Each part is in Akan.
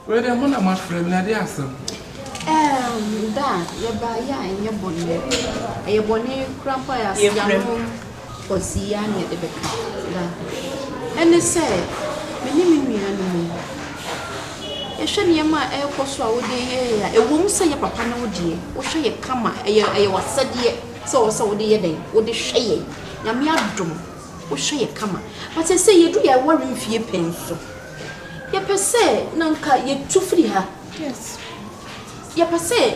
Wei deɛ mo na mo afrɛ me na ɛde asɛm. Ɛɛm da a yɛba yɛ a ɛnyɛ bɔne ɛyɛ bɔne kura mpo a yɛ ase yanom ɔsi yɛ a na yɛde bɛka da ɛne sɛ me ne me nua no mu yɛhwɛ nneɛma a ɛrekɔ so a wode yɛ yɛ a ɛwɔ mu sɛ yɛ papa ne wo deɛ wohwɛ yɛ kama ɛyɛ ɛyɛ wasɛdeɛ sɛ wɔ sɛ wode yɛ dɛn wode hwɛ yɛ nyame adom wohwɛ yɛ kama but ɛsɛ yɛdu yɛ aware mfie pɛn so. Yɛpɛ sɛ na anka yɛtu firi ha. Yɛpɛ sɛ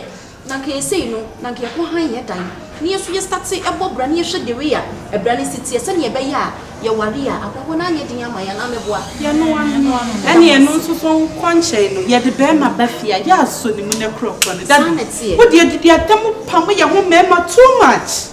na anka yɛ sei no, na anka yɛkɔ hann yɛ dan, na yɛn nso yɛstate bɔ bra na yɛhwɛ the way a bra no si teɛ sɛdeɛ ɛbɛyɛ a yɛware a, ahɔhoɔ no anyɛ den ama yɛn anaa mɛboa? Yɛnoa no. Ɛnneɛ ɛno nso so nkɔ nkyɛn no, yɛde barima ba fie a, yɛasɔ ne mu na ɛkorɔkorɔ no. Dabi! Wo deɛ, didi atɛm pam yɛn ho mmarima too much.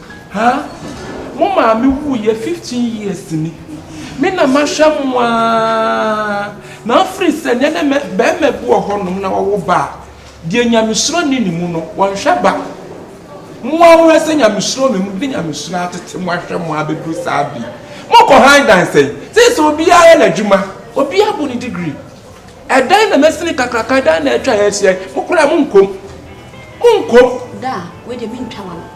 Haa mo maame wuiɛ fifteen years ni me na mahwɛ mo aa na afiri sɛ nɛ nɛ mɛ bɛɛma bi wɔ hɔ nom na wɔwo ba a deɛ nyamesuro nni ne mu no wɔnhwɛ ba mo aa mohwɛ sɛ nyamesuro wɔ me mu de nyamesuro atete mo ahwɛ mo aa bɛduru saa bi mo kɔ han dan sɛn seesei obiara yɛ n'adwuma obiara abu ne degree ɛdɛn na masini kakraka ɛdɛn na atwa ha ahyia yi mo koraa monkɔ mu monkɔ mu. Daa wei deɛ mentwa wano.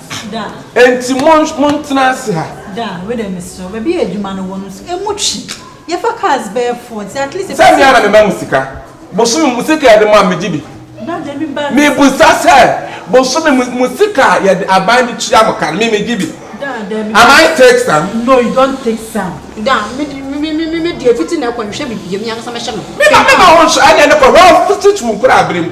Enti montena ase ha. Sɛ me ara na mema mo sika? Bosome mu sika a yɛde ma no, megye bi? Mebisa sɛ, bosome mu mo sika a yɛde aban de tua mo ka no, me megye bi? Am I take some? Mema ho nhwɛ, ɛnneɛ ne kɔ, hwɛ, ɔfiti too wo koraa berɛ mu.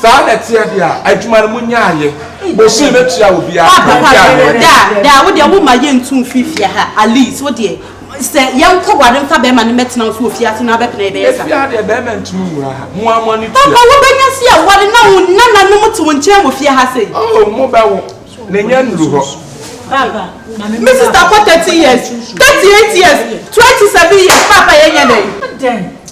Saa na ɛteɛ deɛ a, adwuma no monyɛ ayɛ. Bosome bɛtua obiara ka. Papa pa deɛ wɔ daa daa wo deɛ wo ma yɛ ntu mfiri fie ha at least wo deɛ sɛ yɛ nkɔ ware mfa bɛɛma no mɛtena wo so wɔ fiase no abɛpena yɛ bɛyɛ sa. Ɛfie ha deɛ bɛɛma ntumi nwura ha mo ara mo ani tua. Papa wo bɛnya si a ware na wo nana nom te wo nkyɛn wɔ fie ha sei. Oh mo bɛ wo ne nyɛ nnuru hɔ. Papa me sister kɔ 30 years 38 years 27 years papa yɛ nyɛ dɛn.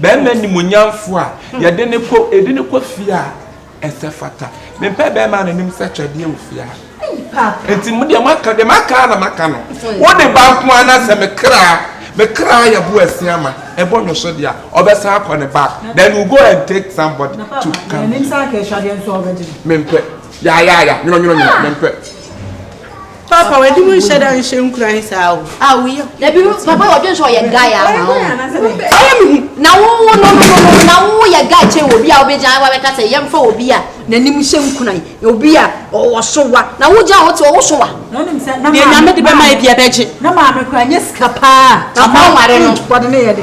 Bɛɛma animuonyamfoɔ a yɛde no kɔ, yɛde no kɔ fie a ɛsɛ fata. Mempɛ bɛɛma a n'anim sɛ twɛdeɛ wɔ fie ha. Nti mo deɛ moaka, deɛ maka ara na maka no. Wode ba nko ara na sɛ me kra, me kra yɛ bo asia ma, ɛbɔ nwoso deɛ a, ɔbɛsan akɔ ne back. Then you go and take somebody to come here. Mempɛ. Yaayaaya, nwono nwono nwono, mempɛ. Papa wadi mu nhyɛ da nhyɛ nkura he saa o. A wo yɛ. Na bi papa wɔ dwen sɛ ɔyɛ guy a ma o. Ɔyɛ mi hu. Na wo wo no no no no na wo yɛ guy kyɛn wɔ bi a wobɛgya awa bɛka sɛ yɛn fa wɔ bi a n'anim hyɛ nkura yi na obi a ɔwɔ so wa na wo gya a wote ɔwo so wa. Na onim sɛ na maame. Deɛ nyame de bɛma ebi ɛbɛgye. Na maame kura nyɛ sika paa. Papa nware no. Wɔde ne yɛ de.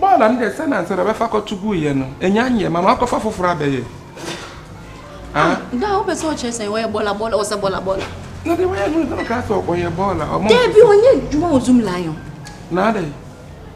bɔɔla no deɛ sɛ nansa na bɛfa kɔto guiɛ no ɛnya nyɛ ma maakɔfa foforɔ abɛyɛ da wopɛ sɛ ɔkyerɛ sɛ wɔyɛ bɔɔla bɔɔla ɔsɛ bɔɔla bɔɔla na deɛ wɔyɛ no sɛ ɔka sɛ ɔyɛ bɔɔla ɔmɔ dɛbi ɔnyɛ adwuma wɔ zoom lion na adɛn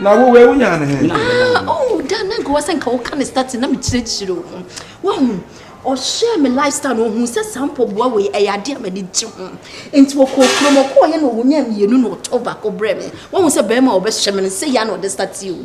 na wo wei wonya ne he ah, oh, da na nka wasɛ nka woka ne starting na mekyerɛkyerɛ wo ho wahu ɔhyɛɛ me lifestyle no ɔhu sɛ saa mpɔboa wei ɛyɛ adeɛ a m'ani gye ho nti wɔkɔɔ kurom ɔkɔɔyɛ na ɔnya mmienu na ɔtɔn baako brɛ me wahu sɛ bɛrima a ɔbɛhyɛ me no sɛ yɛ na ɔde startee o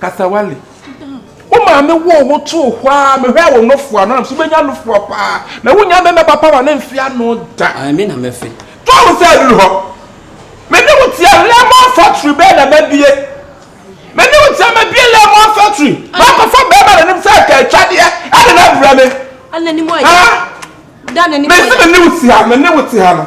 Kasawale. Wo maame woo wo too hɔ a mehwɛ wo nofoa no nam so bɛnya nofoa paa na wonya mɛmɛ papa wa ne mfe ano da. Ɛmi na mɛfe. Twa wo nsa aduru hɔ. Me ne wo tia lemon factory bɛɛ na mabie. Me ne wo tia mabie lemon factory. Makɔfa bɛɛma na nim sɛ ɛka atwadeɛ ɛde na abrɛ me. Ana ni mo ayɛ. Haa. Da na ni mo ayɛ. Mesi me ne wo tia me ne wo tia no.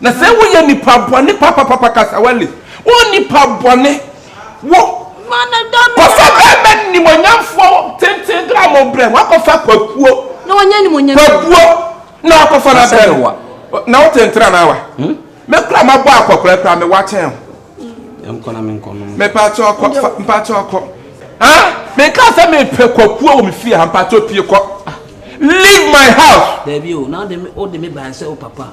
Na sɛ wo yɛ nipa bɔne papapapa kasawale wo nipa bɔne wo kɔfa bɛɛma nimonyamfoɔ tenten dra mo brɛ mo akɔ fa kwakuo kwabuo na wakɔ fa na brɛ no na wo tenten anaa wa hmm? me kura ma bɔ akɔkora kura me wakyɛn ho mepakyɛ ɔkɔ mpakyɛ ɔkɔ meka sɛ mepɛ kwakuo wɔ me fie ha mpakyɛ opie kɔ leave my house. dabi o na ɔde me ɔde me ban sɛ o papa